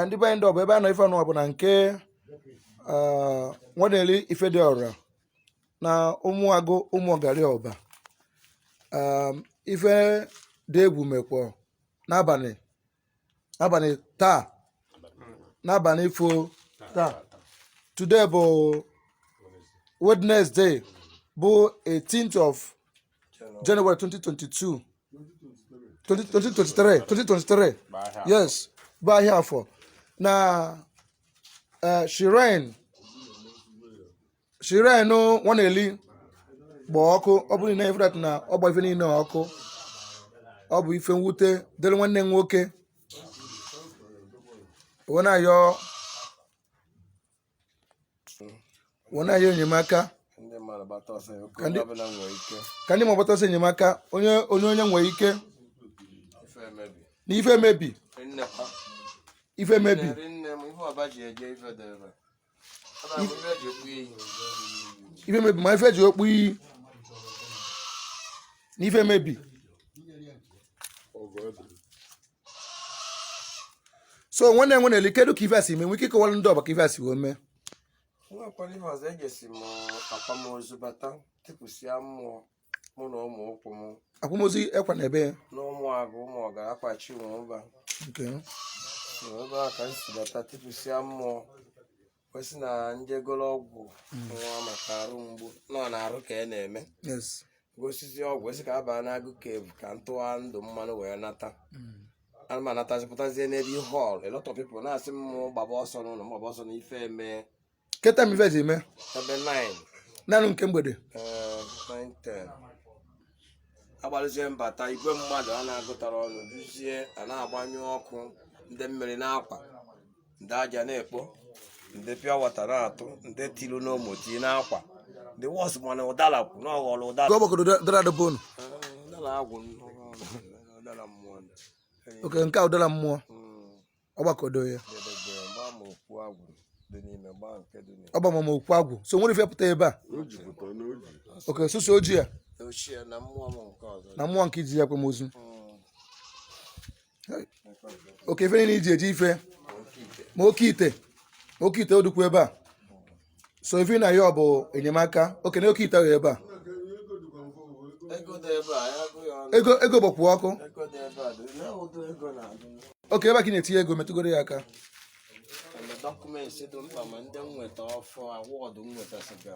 ndị be anyị ọ bụ ebe a nọ ife ọnụwa bụ na nke Nwaneli ife dị ọra na ụmụagụ ụmụọgari ọba ife dị egwu mekwa n'abalị taa n'abalị ifo taa today bụ Wednesday bụ 18th of January 2022 2023 2023 yes bụ ahịa afọ na eh, shrine shrine Nwaneli gba ọkụ ọ bụrụ na in fact na ọ gba ife niile ọkụ ọ bụ ife mwute dịrị nwanne m nwoke wee na-ayọ wee na-ayọ enyemaka ka ndị ma gbata ọsọ enyemaka onye onye onye nwere ike na ife emebi ife emebi ife emebi ma ife eji okpu iyi na ife emebi so nwanne Nwaneli kedu ka ife a si mee nwee ike ịkọwara ndị ọba ka ife a si wee mee nwakwara ihe ọzọ ejesi m akwamozu bata tipụsịa mmụọ mụ na ụmụ ụkwụ m akwamozu ekwa na ebe ya na ụmụ agụ ụmụ ọga akwachi ụmụ ụba nke ebe a ka m si bata tipụsịa mmụọ wee sị na m jee goro ọgwụ hmm. nwa maka arụ mgbu nọ na arụ ka na-eme gosịzie ọgwụ esi ka abaa na agụ kevu ka ntụwa ndụ mmanụ wee nata hmm. ana m anatazipụtazie n'ebe hall a lot of people na-asị m gbaba ọsọ n'ụlọ m gbaba ọsọ n'ife eme keta m ife ji eme ebe 9 nanụ nke mgbede eh, agbaluzie m bata igwe mmadụ a na-agụtara ọnụ duzie a na-agbanyụ ọkụ ndị mmiri na-akwa ndị aja na-ekpo ndị pịa wata na-atụ ndị tilu n'omoti n'akwa ndị wọs mana ụdara kwụ na ọghọrọ ụdara Ka ọ gbakọrọ ụda- ụdara dobe unu. ụdara agwụ ụdara mmụọ ndị Oke nke a ụdara mmụọ ọ gbakọdo ya. edebe gbaa ma okwu agwụ dị n'ime gbaa nke dị n'ime Ọ gbama ma okwu agwụ. So nwere ife pụta ebe a. Oke susu ojii ya ochie na mmụọ m nke ọzọ na mmụọ nke iji ya akwamozu. okay ife niile iji eji ife ma oke ite ma oke ite ọ dụkwu ebe a so ife na-ayọ bụ enyemaka okay na oke ite ahụ ebe a ego ego gbakwu ọkụ okay ebe a ka ị na-etinye ego metụgoro ya aka document dị mkpa ma ndị nweta ọfọ award nweta siga